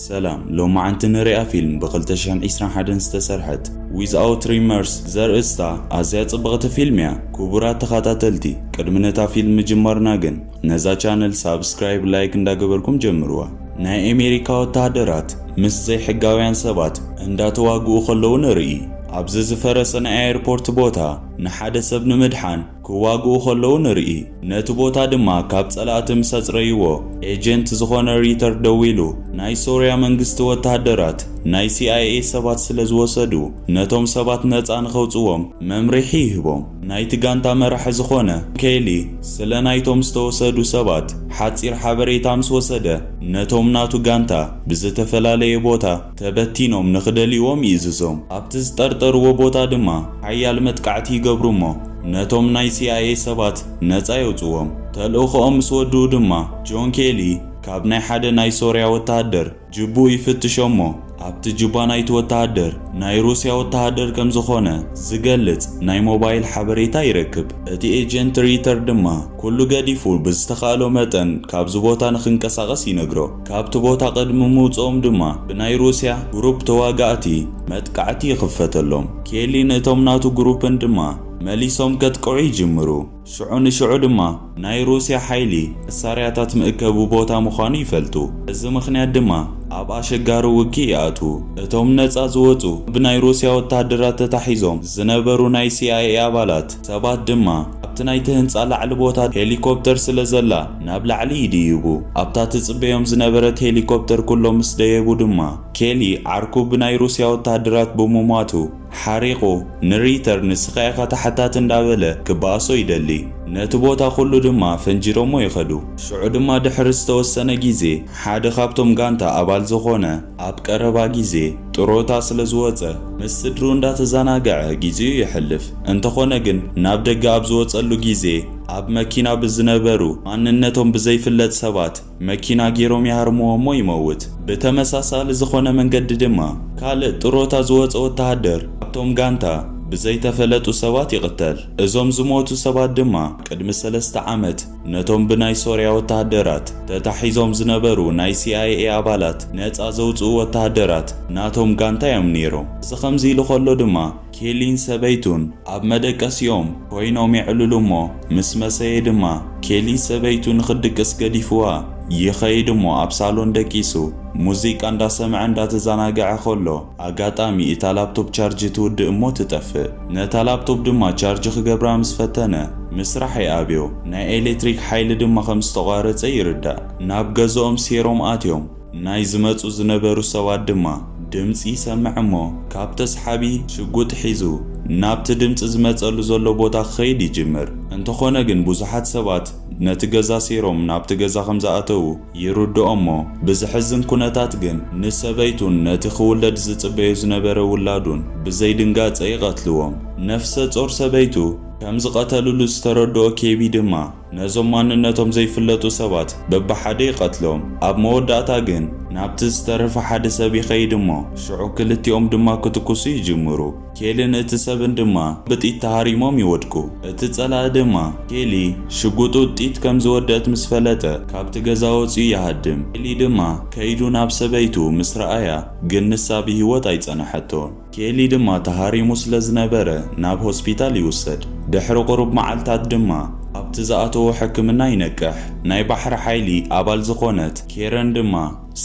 ሰላም ሎማዕንቲ ንሪኣ ፊልም ብ ክልተ ሽሕን ዒስራን ሓደን ዝተሰርሐት Without Remorse ብዘርእስታ ኣዝያ ጽብቕቲ ፊልም እያ ኩቡራት ተኻታተልቲ ቅድሚ ነታ ፊልም ምጅማርና ግን ነዛ ቻነል ሳብስክራይብ ላይክ እንዳገበርኩም ጀምርዋ ናይ ኤሜሪካ ወተሃደራት ምስ ዘይሕጋውያን ሰባት እንዳተዋግኡ ከለዉ ንርኢ ኣብዚ ዝፈረሰ ናይ ኣየርፖርት ቦታ ንሓደ ሰብ ንምድሓን ክዋግኡ ከለዉ ንርኢ። ነቲ ቦታ ድማ ካብ ጸላእቲ ምስ ኣጽረይዎ፣ ኤጀንት ዝኾነ ሪተር ደዊሉ፣ ናይ ሶርያ መንግስቲ ወተሃደራት ናይ ሲኣይኤ ሰባት ስለ ዝወሰዱ፣ ነቶም ሰባት ነጻ ንኸውጽዎም መምርሒ ይህቦም። ናይቲ ጋንታ መራሒ ዝኾነ ኬሊ፣ ስለ ናይቶም ዝተወሰዱ ሰባት ሓጺር ሓበሬታ ምስ ወሰደ፣ ነቶም ናቱ ጋንታ ብዝተፈላለየ ቦታ፣ ተበቲኖም ንኽደልይዎም ይእዝዞም። ኣብቲ ዝጠርጠርዎ ቦታ ድማ ሓያል መጥቃዕቲ ይገብሩ እሞ ነቶም ናይ ሲኣይኤ ሰባት ነጻ የውጽዎም። ተልእኾኦም ምስ ወድኡ ድማ ጆን ኬሊ ካብ ናይ ሓደ ናይ ሶርያ ወተሃደር ጅቡኡ ይፍትሾ እሞ ኣብቲ ጅባ ናይቲ ወተሃደር ናይ ሩስያ ወተሃደር ከም ዝኾነ ዝገልጽ ናይ ሞባይል ሓበሬታ ይረክብ። እቲ ኤጀንት ሪተር ድማ ኩሉ ገዲፉ ብዝተኻእሎ መጠን ካብዚ ቦታ ንኽንቀሳቐስ ይነግሮ። ካብቲ ቦታ ቅድሚ ምውጽኦም ድማ ብናይ ሩስያ ግሩፕ ተዋጋእቲ መጥቃዕቲ ይኽፈተሎም። ኬሊ ንእቶም ናቱ ግሩፕን ድማ መሊሶም ከጥቅዑ ይጅምሩ። ሽዑ ንሽዑ ድማ ናይ ሩስያ ሓይሊ መሳርያታት ምእከቢ ቦታ ምዃኑ ይፈልጡ። በዚ ምኽንያት ድማ ኣብ ኣሸጋሪ ውግእ ይኣትዉ። እቶም ነጻ ዝወጹ ብናይ ሩስያ ወተሃደራት ተታሒዞም ዝነበሩ ናይ ሲኣይኤ ኣባላት፣ ሰባት ድማ ኣብቲ ናይቲ ህንጻ ላዕሊ ቦታ ሄሊኮፕተር ስለ ዘላ ናብ ላዕሊ ይድይቡ። ኣብታ ትጽበዮም ዝነበረት ሄሊኮፕተር ኩሎም ምስ ደየቡ ድማ ኬሊ ዓርኩ ብናይ ሩስያ ወተሃደራት ብምሟቱ ሓሪቑ ንሪተር ንስኻ ኢኻ ተሓታቲ እንዳበለ ክበኣሶ ይደሊ። ነቲ ቦታ ኩሉ ድማ ፈንጂሮሞ ይኸዱ። ሽዑ ድማ ድሕሪ ዝተወሰነ ግዜ ሓደ ካብቶም ጋንታ ኣባል ዝኾነ፣ ኣብ ቀረባ ግዜ ጥሮታ ስለ ዝወጸ ምስ ስድርኡ እንዳተዛናገዐ ግዜኡ የሕልፍ። እንተኾነ ግን ናብ ደገ ኣብ ዝወጸሉ ግዜ ኣብ መኪና ብዝነበሩ ማንነቶም ብዘይፍለጥ ሰባት መኪና ጌሮም ይሃርምዎ'ሞ ይመውት። ብተመሳሳሊ ዝኾነ መንገዲ ድማ ካልእ ጥሮታ ዝወጸ ወተሃደር ካብቶም ጋንታ ብዘይተፈለጡ ሰባት ይቕተል። እዞም ዝሞቱ ሰባት ድማ ቅድሚ ሰለስተ ዓመት ነቶም ብናይ ሶርያ ወተሃደራት ተታሒዞም ዝነበሩ ናይ ሲኣይኤ ኣባላት ነጻ ዘውጽኡ ወተሃደራት ናቶም ጋንታ እዮም ነይሮም። እዚ ከምዚ ኢሉ ከሎ ድማ ኬሊን ሰበይቱን ኣብ መደቀሲኦም ኮይኖም የዕልሉ እሞ ምስ መሰየ ድማ ኬሊ ሰበይቱ ንኽትድቅስ ገዲፍዋ ይኸይድ እሞ ኣብ ሳሎን ደቂሱ ሙዚቃ እንዳሰምዐ እንዳተዛናገዐ ከሎ ኣጋጣሚ እታ ላፕቶፕ ቻርጅ ትውድእ እሞ ትጠፍእ። ነታ ላፕቶፕ ድማ ቻርጅ ክገብራ ምስ ፈተነ፣ ምስራሕ ይኣብዮ። ናይ ኤሌክትሪክ ሓይሊ ድማ ከም ዝተቋረጸ ይርዳእ። ናብ ገዝኦም ሴሮም ኣትዮም። ናይ ዝመጹ ዝነበሩ ሰባት ድማ ድምጺ ይሰምዕ እሞ ካብ ተስሓቢ ሽጉጥ ሒዙ ናብቲ ድምጺ ዝመጸሉ ዘሎ ቦታ ክኸይድ ይጅምር። እንተኾነ ግን ብዙሓት ሰባት ነቲ ገዛ ሴሮም ናብቲ ገዛ ከም ዝኣተዉ፣ ይርድኦ'ሞ፣ ብዘሕዝን ኩነታት ግን ንሰበይቱን ነቲ ክውለድ ዝጽበዮ ዝነበረ ውላዱን ብዘይድንጋጸ ይቐትልዎም። ነፍሰጾር ሰበይቱ ከም ዝቐተልሉ ዝተረድኦ ኬቢ ድማ፣ ነዞም ማንነቶም ዘይፍለጡ ሰባት በብሓደ ይቐትሎም። ኣብ መወዳእታ ግን ናብቲ ዝተረፈ ሓደ ሰብ ይኸይድ'ሞ፣ ሽዑ ክልቲኦም ድማ ክትኩሱ ይጅምሩ። ኬሊን እቲ ሰብን ድማ ብጥይት ተሃሪሞም ይወድቁ። እቲ ጸላኢ ድማ ኬሊ ሽጉጡ ጥይት ከም ዝወደእት ምስ ፈለጠ ካብቲ ገዛ ወጺኡ ይሃድም። ኬሊ ድማ ከይዱ ናብ ሰበይቱ ምስ ረኣያ ግን ንሳ ብህይወት ኣይጸነሐቶን። ኬሊ ድማ ተሃሪሙ ስለ ዝነበረ ናብ ሆስፒታል ይውሰድ። ድሕሪ ቁሩብ መዓልታት ድማ ኣብቲ ዝኣተዎ ሕክምና ይነቅሕ። ናይ ባሕሪ ሓይሊ ኣባል ዝኾነት ኬረን ድማ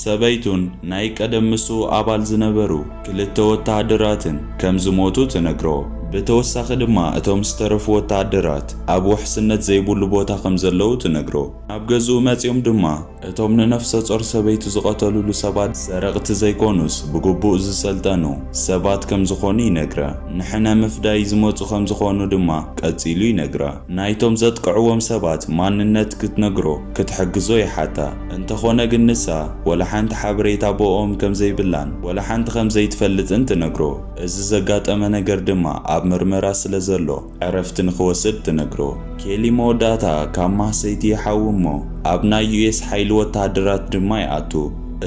ሰበይቱን ናይ ቀደም ምስኡ ኣባል ዝነበሩ ክልተ ወተሃደራትን ከም ዝሞቱ ትነግሮ። ብተወሳኺ ድማ እቶም ዝተረፉ ወተሃደራት ኣብ ውሕስነት ዘይብሉ ቦታ ከም ዘለዉ ትነግሮ። ናብ ገዝኡ መጺኦም ድማ እቶም ንነፍሰጾር ሰበይቱ ዝቐተልሉ ሰባት ሰረቕቲ ዘይኮኑስ ብግቡእ ዝሰልጠኑ ሰባት ከም ዝኾኑ ይነግራ። ንሕነ ምፍዳይ ዝመጹ ከም ዝኾኑ ድማ ቀጺሉ ይነግራ። ናይቶም ዘጥቅዕዎም ሰባት ማንነት ክትነግሮ፣ ክትሕግዞ ይሓታ። እንተኾነ ግን ንሳ ወላ ሓንቲ ሓበሬታ ብእኦም ከም ዘይብላን ወላ ሓንቲ ከም ዘይትፈልጥን ትነግሮ። እዚ ዘጋጠመ ነገር ድማ ኣብ ምርመራ ስለ ዘሎ ዕረፍቲ ንኽወስድ ትነግሮ። ኬሊ መወዳእታ ካብ ማህሰይቲ ይሓዊ እሞ ኣብ ናይ ዩኤስ ሓይሊ ወተሃደራት ድማ ይኣቱ።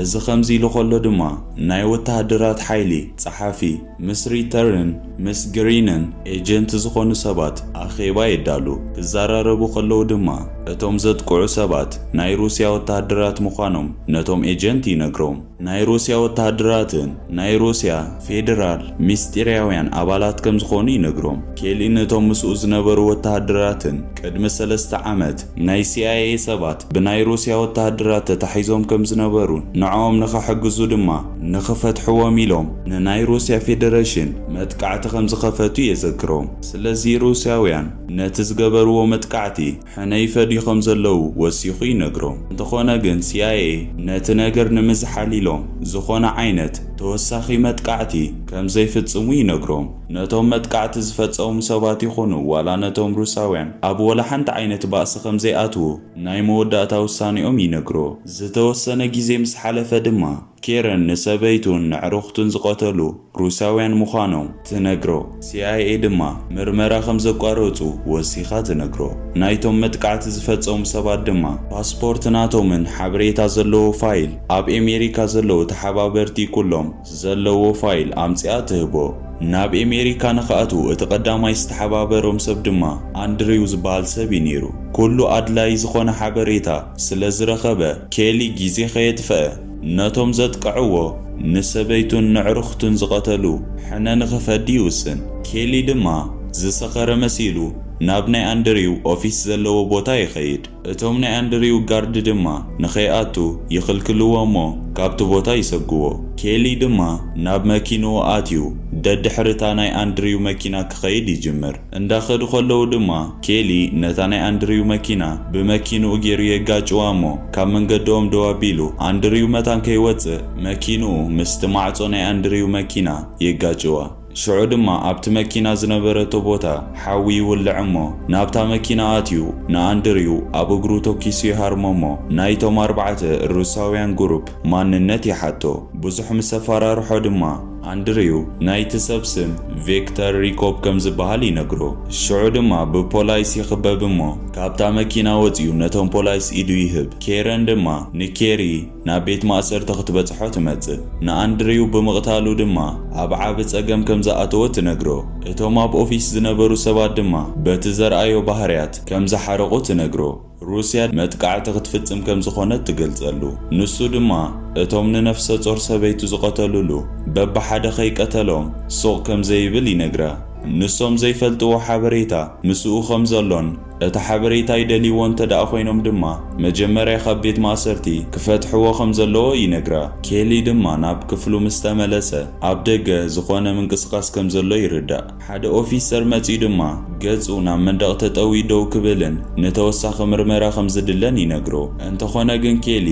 እዚ ከምዚ ኢሉ ከሎ ድማ ናይ ወተሃደራት ሓይሊ ጸሓፊ፣ ምስ ሪተርን ምስ ግሪንን ኤጀንት ዝኾኑ ሰባት ኣኼባ የዳሉ። ክዘራረቡ ከለዉ ድማ እቶም ዘጥቅዑ ሰባት ናይ ሩስያ ወተሃደራት ምዃኖም ነቶም ኤጀንት ይነግሮም። ናይ ሩስያ ወተሃደራትን ናይ ሩስያ ፌደራል ምስጢርያውያን ኣባላት ከም ዝኾኑ ይነግሮም። ኬሊ ነቶም ምስኡ ዝነበሩ ወተሃደራትን ቅድሚ ሰለስተ ዓመት ናይ ሲኣይኤ ሰባት ብናይ ሩስያ ወተሃደራት ተታሒዞም ከም ዝነበሩን ንዕኦም ንኸሕግዙ ድማ ንኽፈትሕዎም ኢሎም ንናይ ሩስያ ፌደረሽን መጥቃዕቲ ከምዝኸፈቱ የዘክሮም። ስለዚ ሩስያውያን ነቲ ዝገበርዎ መጥቃዕቲ ሕነ ይፈድዩ ከምዘለዉ ወሲኹ ይነግሮም። እንተኾነ ግን ሲኣይኤ ነቲ ነገር ንምዝሓል ኢሎም ዝኾነ ዓይነት ተወሳኺ መጥቃዕቲ ከምዘይፍጽሙ ይነግሮም። ነቶም መጥቃዕቲ ዝፈጸሙ ሰባት ይኹኑ ዋላ ነቶም ሩስያውያን ኣብ ወላሓንቲ ዓይነት ባእሲ ከምዘይኣትዉ ናይ መወዳእታ ውሳኔኦም ይነግሮ። ዝተወሰነ ግዜ ምስ ሓለፈ ድማ፣ ኬረን ንሰበይቱን ነዕርኹቱን ዝቐተሉ ሩስያውያን ምዃኖም ትነግሮ። ሲኣይኤ ድማ ምርመራ ከም ዘቋረጹ ወሲኻ ትነግሮ። ናይቶም መጥቃዕቲ ዝፈጸሙ ሰባት ድማ ፓስፖርት ናቶምን ሓበሬታ ዘለዎ ፋይል ኣብ ኤሜሪካ ዘለዉ ተሓባበርቲ ኩሎም፣ ዘለዎ ፋይል ኣምጺኣ ትህቦ። ናብ ኤሜሪካ ንክኣትዉ እቲ ቀዳማይ ዝተሓባበሮም ሰብ ድማ ኣንድሪው ዝበሃል ሰብ እዩ ነይሩ። ኩሉ ኣድላዪ ዝኾነ ሓበሬታ ስለ ዝረኸበ ኬሊ ግዜ ከየጥፈኣ ነቶም ዘጥቀዕዎ ንሰበይቱን ነዕርኽቱን ዝቐተሉ ሕነ ንክፈዲ ይውስን። ኬሊ ድማ ዝሰኸረ መሲሉ ናብ ናይ ኣንድሪው ኦፊስ ዘለዎ ቦታ ይኸይድ። እቶም ናይ ኣንድሪው ጋርድ ድማ ንኸይኣቱ ይኽልክልዎ እሞ ካብቲ ቦታ ይሰጉዎ። ኬሊ ድማ ናብ መኪንኡ ኣትዩ ደድሕሪታ ናይ ኣንድሪው መኪና ክኸይድ ይጅምር። እንዳኸዱ ከለዉ ድማ ኬሊ ነታ ናይ ኣንድሪው መኪና ብመኪንኡ ጌሩ የጋጭዋ እሞ ካብ መንገድኦም ደው ኣቢሉ ኣንድሪው መታን ከይወጽእ መኪንኡ ምስቲ ማዕጾ ናይ ኣንድሪው መኪና የጋጭዋ። ሽዑ ድማ ኣብቲ መኪና ዝነበረቶ ቦታ ሓዊ ይውልዕ እሞ ናብታ መኪና ኣትዩ ንኣንድርዩ ኣብ እግሩ ቶኪሱ ይሃርሞ እሞ ናይቶም ኣርባዕተ ሩስያውያን ጉሩፕ ማንነት ይሓቶ ብዙሕ ምስ ኣፋራርሖ ድማ ኣንድርዩ ናይቲ ሰብ ስም ቬክተር ሪኮፕ ከም ዝብሃል ይነግሮ ሽዑ ድማ ብፖላይስ ይኽበብ እሞ ካብታ መኪና ወጽዩ ነቶም ፖላይስ ኢዱ ይህብ ኬረን ድማ ንኬሪ ናብ ቤት ማእሰርቲ ክትበጽሖ ትመጽእ። ንኣንድሪው ብምቕታሉ ድማ ኣብ ዓቢ ጸገም ከም ዝኣተወ ትነግሮ። እቶም ኣብ ኦፊስ ዝነበሩ ሰባት ድማ በቲ ዘርኣዮ ባህርያት ከም ዝሓረቑ ትነግሮ። ሩስያ መጥቃዕቲ ክትፍጽም ከም ዝዀነት ትገልጸሉ። ንሱ ድማ እቶም ንነፍሰጾር ሰበይቱ ዝቐተሉሉ በብሓደ ከይቀተሎም ሱቕ ከም ዘይብል ይነግራ። ንሶም ዘይፈልጥዎ ሓበሬታ ምስኡ ከም ዘሎን፣ እቲ ሓበሬታ ይደልይዎ እንተድኣ ኮይኖም ድማ መጀመርያ ካብ ቤት ማእሰርቲ ክፈትሕዎ ከም ዘለዎ ይነግራ። ኬሊ ድማ ናብ ክፍሉ ምስ ተመለሰ ኣብ ደገ ዝኾነ ምንቅስቓስ ከም ዘሎ ይርዳእ። ሓደ ኦፊሰር መጺኡ ድማ ገጹ ናብ መንደቕ ተጠውዩ ደው ክብልን ንተወሳኺ ምርመራ ከም ዝድለን ይነግሮ። እንተኾነ ግን ኬሊ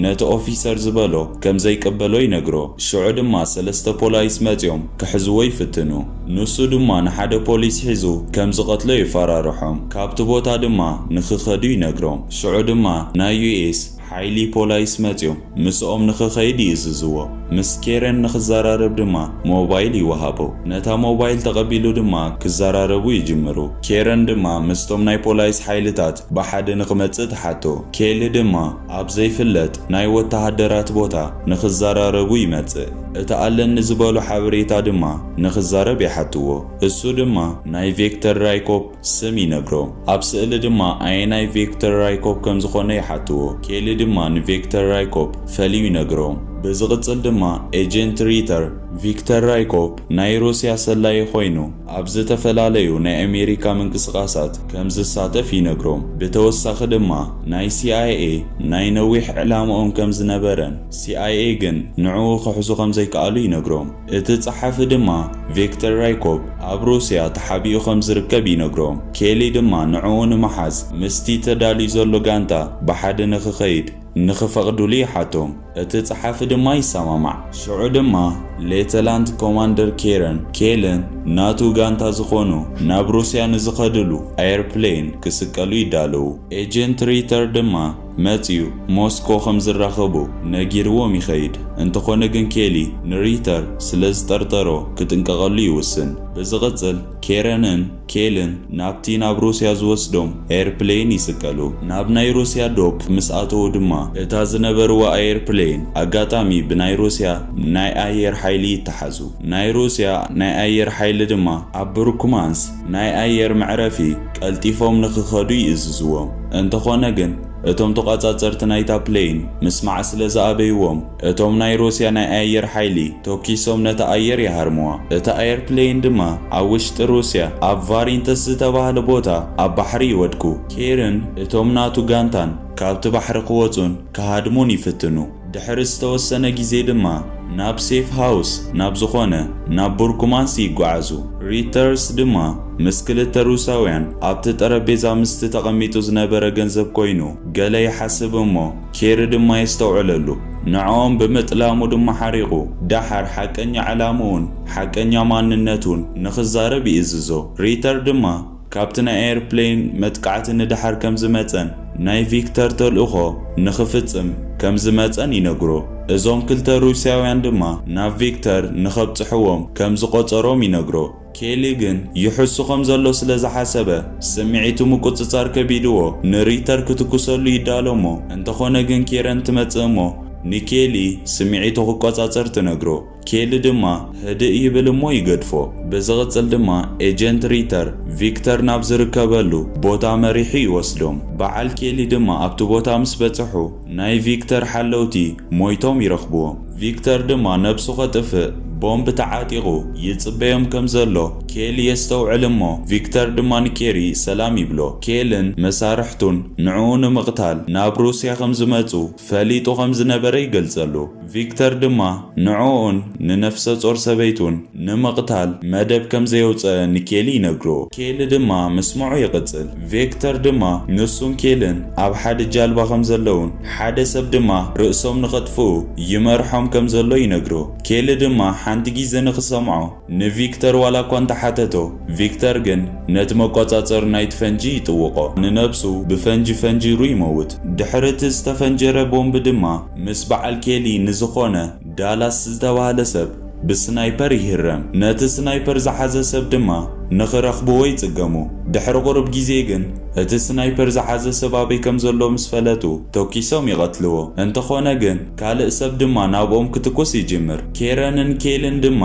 ነቲ ኦፊሰር ዝበሎ ከም ዘይቅበሎ ይነግሮ። ሽዑ ድማ ሰለስተ ፖላይስ መጺኦም ክሕዝዎ ይፍትኑ። ንሱ ድማ ንሓደ ፖሊስ ሒዙ ከም ዝቐትሎ የፈራርሖም፣ ካብቲ ቦታ ድማ ንኽኸዱ ይነግሮም። ሽዑ ድማ ናይ ዩኤስ ሓይሊ ፖላይስ መጺኦም ምስኦም ንኽኸይድ ይእዝዝዎ። ምስ ኬረን ንኽዘራረብ ድማ ሞባይል ይወሃቦ። ነታ ሞባይል ተቐቢሉ ድማ ክዘራረቡ ይጅምሩ። ኬረን ድማ ምስቶም ናይ ፖላይስ ሓይልታት ብሓደ ንኽመጽእ ትሓቶ። ኬሊ ድማ። ኣብ ዘይፍለጥ ናይ ወተሃደራት ቦታ ንኽዘራረቡ ይመጽእ። እቲ ኣለኒ ዝበሎ ሓበሬታ ድማ ንኽዛረብ ይሓትዎ። እሱ ድማ ናይ ቬክተር ራይኮፕ ስም ይነግሮም። ኣብ ስእሊ ድማ ኣየናይ ቬክተር ራይኮፕ ከም ዝኾነ ይሓትዎ። ኬሊ ድማ ንቬክተር ራይኮፕ ፈልዩ ይነግሮም። ብዝቕጽል ድማ ኤጀንት ሪተር፣ ቪክተር ራይኮፕ ናይ ሩስያ ሰላዪ ኮይኑ፣ ኣብ ዝተፈላለዩ ናይ ኣሜሪካ ምንቅስቓሳት ከም ዝሳተፍ ይነግሮም። ብተወሳኺ ድማ ናይ ሲኣይኤ ናይ ነዊሕ ዕላምኦም ከም ዝነበረን ሲኣይኤ ግን ንዕኡ ክሕዙ ከም ዘይከኣሉ ይነግሮም። እቲ ጸሓፊ ድማ ቪክተር ራይኮፕ ኣብ ሩስያ ተሓቢኡ ከም ዝርከብ ይነግሮም። ኬሊ ድማ ንዕኡ ንምሓዝ ምስቲ ተዳልዩ ዘሎ ጋንታ ብሓደ ንኽኸይድ፣ ንኽፈቕዱሉ ይሓቶም፣ እቲ ጸሓፊ ድማ ይሰማማዕ። ሽዑ ድማ ሌተላንት ኮማንደር ኬረን ኬልን ናቱ ጋንታ ዝኾኑ ናብ ሩስያ ንዝኸድሉ ኣየርፕሌን ክስቀሉ ይዳለዉ። ኤጀንት ሪተር ድማ መጺኡ ሞስኮ ከም ዝራኸቡ ነጊርዎም ይኸይድ። እንተኾነ ግን ኬሊ ንሪተር ስለ ዝጠርጠሮ ክጥንቀቐሉ ይውስን። ብዝቕጽል ኬረንን። ኬልን ናብቲ ናብ ሩስያ ዝወስዶም ኣየርፕለይን ይስቀሉ። ናብ ናይ ሩስያ ዶብ ምስ ኣተዉ ድማ እታ ዝነበርዋ ኣየርፕለይን ኣጋጣሚ ብናይ ሩስያ ናይ ኣየር ሓይሊ ይተሓዙ። ናይ ሩስያ ናይ ኣየር ሓይሊ ድማ ኣብ ብሩክማንስ ናይ ኣየር መዕረፊ ቀልጢፎም ንክኸዱ ይእዝዝዎም። እንተኾነ ግን እቶም ተቋጻጸርቲ ናይታ ፕለይን ምስማዕ ስለዝኣበይዎም፣ እቶም ናይ ሩስያ ናይ ኣየር ሓይሊ ቶኪሶም ነታ ኣየር ይሃርምዋ። እታ ኣየርፕለይን ድማ ኣብ ውሽጢ ሩስያ ኣብ ቫሪንተስ ዝተባህለ ቦታ ኣብ ባሕሪ ይወድቁ። ኬርን እቶም ናቱ ጋንታን ካብቲ ባሕሪ ክወጹን ክሃድሙን ይፍትኑ። ድሕሪ ዝተወሰነ ግዜ ድማ ናብ ሴፍ ሃውስ ናብ ዝኾነ ናብ ቡርኩማንስ ይጓዓዙ። ሪተርስ ድማ ምስ ክልተ ሩስያውያን ኣብቲ ጠረጴዛ ምስቲ ተቐሚጡ ዝነበረ ገንዘብ ኮይኑ ገለ ይሓስብ እሞ፣ ኬሪ ድማ የስተውዕለሉ፣ ንዕኦም ብምጥላሙ ድማ ሓሪቑ፣ ደሓር ሓቀኛ ዕላምኡን ሓቀኛ ማንነቱን ንኽዛረብ ይእዝዞ። ሪተር ድማ ካብቲ ናይ ኣየርፕሌን መጥቃዕቲ ንደሓር ከም ዝመጸን ናይ ቪክተር ተልእኾ ንኽፍጽም ከም ዝመጸን ይነግሮ። እዞም ክልተ ሩስያውያን ድማ ናብ ቪክተር ንኸብጽሕዎም ከም ዝቖጸሮም ይነግሮ። ኬሊ ግን ይሕሱ ከም ዘሎ ስለ ዝሓሰበ፣ ስምዒቱ ምቍጽጻር ከቢድዎ ንሪተር ክትኵሰሉ ይዳሎ እሞ፣ እንተዀነ ግን ኬረን ትመጽእ እሞ ንኬሊ ስምዒቱ ክቈጻጸር ትነግሮ። ኬሊ ድማ ህድእ ይብል እሞ ይገድፎ። ብዝቕጽል ድማ ኤጀንት ሪተር ቪክተር ናብ ዝርከበሉ ቦታ መሪሑ ይወስዶም። በዓል ኬሊ ድማ ኣብቲ ቦታ ምስ በጽሑ፣ ናይ ቪክተር ሓለውቲ ሞይቶም ይረኽብዎም። ቪክተር ድማ ነብሱ ከጥፍእ ቦምብ ተዓጢቑ ይጽበዮም ከም ዘሎ ኬሊ የስተውዕል እሞ ቪክተር ድማ ንኬሪ ሰላም ይብሎ። ኬልን መሳርሕቱን ንዕኡ ንምቕታል ናብ ሩስያ ከም ዝመጹ ፈሊጡ ከም ዝነበረ ይገልጸሉ። ቪክተር ድማ ንዕኡን ንነፍሰ ጾር ሰበይቱን ንምቕታል መደብ ከም ዘየውጸኣ ንኬሊ ይነግሮ። ኬሊ ድማ ምስምዑ ይቕጽል። ቪክተር ድማ ንሱን ኬልን ኣብ ሓደ ጃልባ ከም ዘለዉን ሓደ ሰብ ድማ ርእሶም ንኸጥፍኡ ይመርሖም ከም ዘሎ ይነግሮ። ኬሊ ድማ ሓንቲ ጊዘ ንኽሰምዖ ንቪክተር ዋላ እኳ እንተ ሓተቶ፣ ቪክተር ግን ነቲ መቆጻጸሪ ናይቲ ፈንጂ ይጥውቖ። ንነብሱ ብፈንጂ ፈንጂሩ ይመውት። ድሕሪ እቲ ዝተፈንጀረ ቦምብ ድማ ምስ በዓል ኬሊ ንዝኾነ ዳላስ ዝተባህለ ሰብ ብስናይፐር ይህረም። ነቲ ስናይፐር ዝሓዘ ሰብ ድማ ንኽረኽብዎ ይጽገሙ። ድሕሪ ቁሩብ ግዜ ግን እቲ ስናይፐር ዝሓዘ ሰብ ኣበይ ከም ዘሎ ምስ ፈለጡ ቶኪሶም ይቐትልዎ። እንተኾነ ግን። ካልእ ሰብ ድማ ናብኦም ክትኩስ ይጅምር። ኬረንን ኬልን ድማ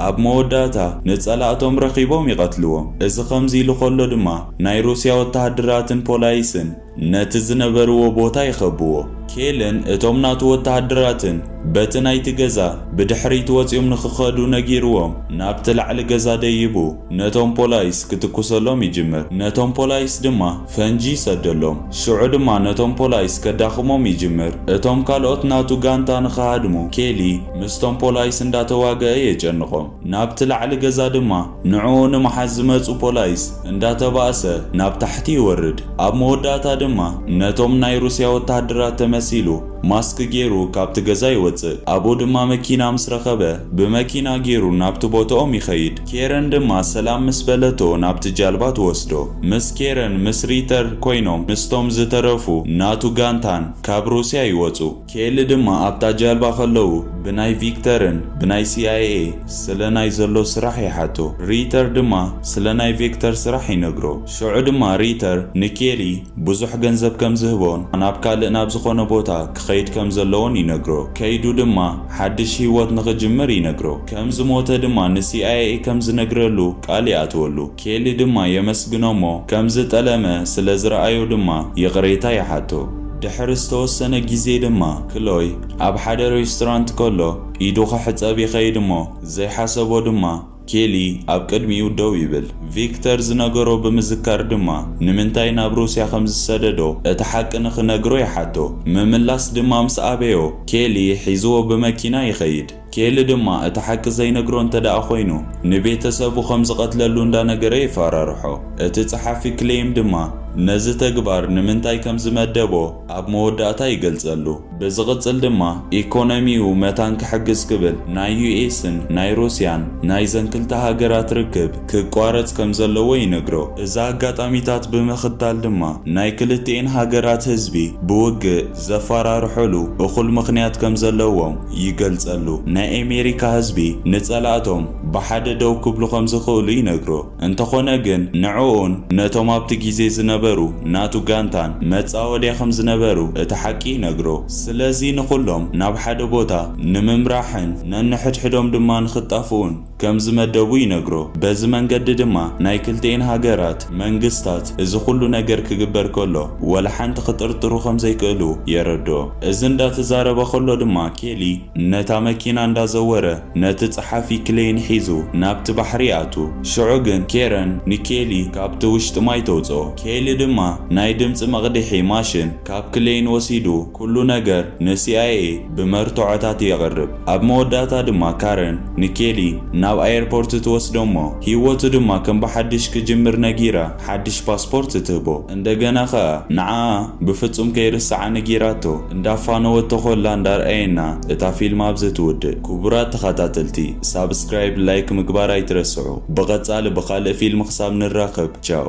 ኣብ መወዳእታ ንጸላእቶም ረኺቦም ይቐትልዎም። እዚ ከምዚ ኢሉ ከሎ ድማ ናይ ሩስያ ወተሃደራትን ፖላይስን ነቲ ዝነበርዎ ቦታ ይኸብዎ። ኬልን እቶም ናቱ ወተሃደራትን በቲ ናይቲ ገዛ ብድሕሪት ወጺኦም ንኽኸዱ ነጊርዎም ናብቲ ላዕሊ ገዛ ደይቡ ነቶም ፖላይስ ክትኩሰሎም ይጅምር። ነቶም ፖላይስ ድማ። ፈንጂ ይሰደሎም። ሽዑ ድማ ነቶም ፖላይስ ከዳኽሞም ይጅምር። እቶም ካልኦት ናቱ ጋንታ ንኽሃድሙ ኬሊ ምስቶም ፖላይስ እንዳተዋገኣ የጨንቖም። ናብቲ ላዕሊ ገዛ ድማ ንዕኡ ንምሓዝ ዝመጹ ፖላይስ እንዳተባእሰ ናብ ታሕቲ ይወርድ። ኣብ መወዳእታ ድማ ነቶም ናይ ሩስያ ወተሃደራት ተመሲሉ ማስክ ጌሩ ካብቲ ገዛ ይወጽእ። ኣብኡ ድማ መኪና ምስ ረኸበ ብመኪና ጌሩ ናብቲ ቦትኦም ይኸይድ። ኬረን ድማ ሰላም ምስ በለቶ ናብቲ ጃልባ ትወስዶ። ምስ ኬረን ምስ ሪተር ኮይኖም ምስቶም ዝተረፉ ናቱ ጋንታን ካብ ሩስያ ይወጹ። ኬሊ ድማ ኣብታ ጃልባ ከለዉ ብናይ ቪክተርን ብናይ ሲኣይኤ ስለ ናይ ዘሎ ስራሕ ይሓቶ። ሪተር ድማ ስለ ናይ ቪክተር ስራሕ ይነግሮ። ሽዑ ድማ ሪተር ንኬሊ ብዙሕ ገንዘብ ከም ዝህቦን ናብ ካልእ ናብ ዝኾነ ቦታ ክኸይድ ከም ዘለዎን ይነግሮ። ከይዱ ድማ ሓድሽ ህይወት ንኽጅምር ይነግሮ። ከም ዝሞተ ድማ ንሲኣይኤ ከም ዝነግረሉ ቃል ይኣትወሉ። ኬሊ ድማ የመስግኖ'ሞ ከም ዝጠለመ ስለ ዝረኣዮ ድማ ይቕሬታ ይሓቶ። ድሕሪ ዝተወሰነ ግዜ ድማ ክሎይ ኣብ ሓደ ሬስቶራንት ከሎ ኢዱ ክሕጸብ ይኸይድ'ሞ ዘይሓሰቦ ድማ ኬሊ ኣብ ቅድሚኡ ደው ይብል። ቪክተር ዝነገሮ ብምዝካር ድማ ንምንታይ ናብ ሩስያ ከም ዝሰደዶ እቲ ሓቂ ንኽነግሮ ይሓቶ። ምምላስ ድማ ምስ ኣበዮ ኬሊ ሒዝዎ ብመኪና ይኸይድ። ኬሊ ድማ እቲ ሓቂ ዘይነግሮ እንተድኣ ኮይኑ ንቤተሰቡ ከም ዝቐትለሉ እንዳነገረ የፋራርሖ። እቲ ጸሓፊ ክሌይም ድማ ነዚ ተግባር ንምንታይ ከም ዝመደቦ ኣብ መወዳእታ ይገልጸሉ። ብዝቕጽል ድማ ኢኮኖሚኡ መታን ክሕግዝ ክብል ናይ ዩኤስን ናይ ሩስያን ናይዘን ክልተ ሃገራት ርክብ ክቋረጽ ከም ዘለዎ ይነግሮ። እዚ ኣጋጣሚታት ብምኽታል ድማ ናይ ክልቲኤን ሃገራት ህዝቢ ብውግእ፣ ዘፋራርሖሉ እኹል ምኽንያት ከምዘለዎም ይገልጸሉ። ናይ ኤሜሪካ ህዝቢ ንጸላእቶም ብሓደ ደው ክብሉ ከምዝኽእሉ ይነግሮ። እንተኾነ ግን ንዕኡን ነቶም ኣብቲ ጊዜ ዝነበሩ ናቱ ጋንታን መጻወድያ ከምዝነበሩ እቲ ሓቂ ይነግሮ። ስለዚ ንኹሎም ናብ ሓደ ቦታ ንምምራሕን ነንሕድሕዶም ድማ ንኽጣፍኡን፣ ከም ዝመደቡ ይነግሮ። በዚ መንገዲ ድማ ናይ ክልቲኤን ሃገራት መንግስታት እዚ ኩሉ ነገር ክግበር ከሎ ወላ ሓንቲ ክጥርጥሩ ከም ዘይክእሉ የረድኦ። እዚ እንዳ ተዛረበ ከሎ ድማ ኬሊ ነታ መኪና እንዳ ዘወረ ነቲ ጸሓፊ ክሌይን ሒዙ ናብቲ ባሕሪ ይኣቱ። ሽዑ ግን ኬረን ንኬሊ ካብቲ ውሽጢ ማይ ተውጽኦ። ኬሊ ድማ ናይ ድምጺ መቕዲሒ ማሽን ካብ ክሌይን ወሲዱ ኩሉ ነገር ንሲኣይኤ ብመርትዖታት የቕርብ። ኣብ መወዳእታ ድማ ካረን ንኬሊ ናብ ኣየርፖርት ትወስዶ'ሞ ህይወቱ ድማ ከም ብሓድሽ ክጅምር ነጊራ ሓድሽ ፓስፖርት ትህቦ። እንደገና ከኣ ንዓኣ ብፍጹም ከይርስዓ ነጊራቶ። እንዳፋነወቶ ኮላ እንዳርኣየና እታ ፊልም ኣብዚ ትውድእ። ክቡራት ተኻታተልቲ ሳብስክራይብ ላይክ ምግባር ኣይትረስዑ። ብቐጻሊ ብኻልእ ፊልም ክሳብ ንራኸብ ቻው።